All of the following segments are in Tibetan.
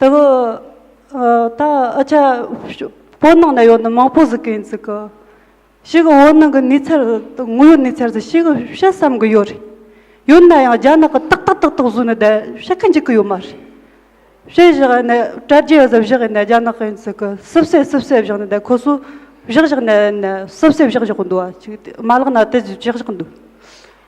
དེ་གི་ད་ཨ་ཅག་བོད་ནང་ན་ཡོད་ན་མང་པོ་ཟིག་གི་ཡིན་ཟིག་གི། ཞིག་གི་བོད་ནང་གི་གནས་ཚལ་དངོས་ཡོད་གནས་ཚལ་ཟིག་ཞིག་གི་བཤད་བསམ་གི་ཡོད་རེད། ཡོད་ན་ཡང་རྒྱ་ནག་གི་ཏག་ཏག་ཏག་ཏག་བཟོས་ནས་བསྡད་བཤད་གི་འཇུག་གི་ཡོད་མ་རེད། བཤད་བཞག་ནས་དྲ་རྒྱའི་གཟབ་བཞག་ཡིན་ནས་རྒྱ་ནག་གི་ཡིན་ཟིག་གི་སིབ་སེ་སིབ་སེ་བཞག་ནས་བསྡད་ཁོ་ཚོས་བཞག་བཞག་ནས་ནས་སིབ་སེ་བཞག་བཞག་གི་འདུག་ཨ་ཅིག་མ་ལག་ན་དེ་བཞག་བཞག་གི་འདུག།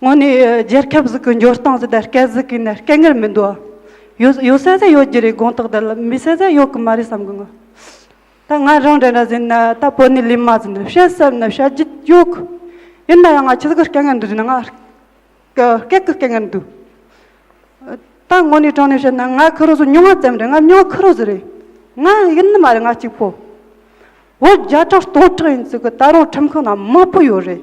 དངོས་ནས་རྒྱལ་ཁབ་ཟིག་གི་འབྱོར་སྟངས་ཟེར་ད་སྐད་ཟིག་གིས་ནི་སྐད་ངར་མི་འདུག་ཡོད་ཡོད་སའི་ཟ་ཡོད་རྒྱུ་རེད་དགོངས་དག་དེ་ལ་མི་སའི་ཟ་ཡོད་གི་མ་རེད་བསམ་གི་ངོ། ད་ང་རང་འདྲ་འདྲ་ཟིན་ན་ད་བོད་ནས་ལས་མ་ཟིན་ན་བཤད་བསམ་ན་བཤད་རྒྱུ་ཡོད་གི། ཡིན་ན་ཡང་ང་ཁྱི་ཟིག་གི་སྐད་ངར་འདུག་ཟེར་ན་ང་སྐད་གི་སྐད་ངར་འདུག། ད་དངོས་ནས་དྲང་ནས་བཤད་ན་ང་ཁི་རོ་ཟུ་ཉུང་བ་ཙམ་རེད་ང་ཉུང་ཁི་རོ་ཟུ་རེད། ང་ཡིན་ནི་མ་རེད་ང་གཅིག་པོ། བོད་བརྒྱ་ཕྲག་སྟོང་ཕྲག་ཡིན་ཟིག་གི་ད་རུང་ཁྲིམས་ཁང་ན་མང་པོ་ཡོད་རེད།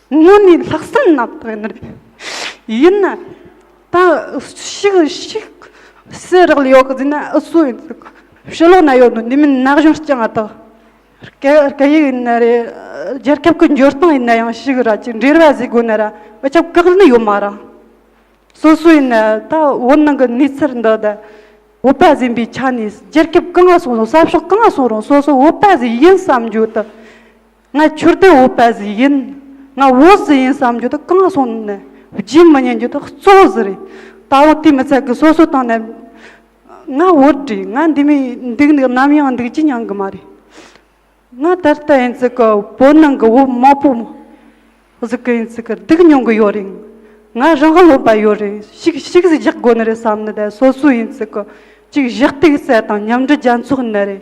དངོས་ནས་ལྷག་བསམ་ནག་པོ་ཡིན་རེད། ཡིན་ན་ད་ཕྱིས་ཤིག་སེ་རག་ལ་ཡོད་གི་ཟིན་ན་ཨི་སུ་ཡིན་ཟེར་གི་ཕྱི་ལོག་ན་ཡོད་ནོ་འདི་མིན་ན་གཞུང་རྐྱང་ཨ་ཐག་སྐད་ཡིག་ཡིན་ན་རེད་རྒྱལ་ཁབ་ཀྱི་འབྱོར་སྟངས་ཡིན་ན་ཡང་ཤིག་ར་ཅིག་འབྲེལ་བ་བཟོས་དགོས་ན་ར་ཨི་ཁྱབ་བཀག་ལེ་ཡོད་མ་ར་སོ་སོ་ཡིན་ན་ད་བོད་ནང་གི་གནས་ཚུལ་འདི་ད་བོད་པ་ཟིན་པའི་ཆ་ནས་རྒྱལ་ཁབ་གང་ང་སོང་རུང་ས་ཕྱོགས་གང་ང་སོང་རུང་སོ་སོ་བོད་པ་ཟིག་ཡིན་བསམ་རྒྱུ་ད། ང་ཁྱོད་དེ་འོས་པ་ཟིག་ཡིན། ང་འོས་ཟིག་ཡིན་བསམ་རྒྱུ་དེ་གང་སོང་ནས་བརྗེད་མི་ཉན་རྒྱུ་དེ་གཙོ་བོ་ཟིག་རེད། ད་དབང་དེ་མི་ཚད་གི་སོ་སོའི་ཏང་ནས་ང་འོས་བསྒྲིགས་ང་འདི་མི་འདུག་འདུག་ནམ་ཡང་འདུག་ཅི་མྱང་གི་མ་རེད། ང་ད་ལྟ་ཡིན་ཚིག་གི་བོད་ནང་གི་འོས་མང་པོ་ཟིག་གི་ཡིན་ཚིག་གི་སྡུག་མྱོང་གི་ཡོད་རེད། ང་རང་བློ་འབད་ཡོད་རེད་ཤིག་ཤིག་ཟིག་བཞག་དགོས་ནི་རེད་བསམ་ནི་དེ་སོ་སོའི་ཡིན་ཚིག་གི་ཅིག་བཞག་སྟེགས་བསལ་དང་མཉམ་འབྲེལ་རྒྱལ་ཚོགས་ནི་རེད།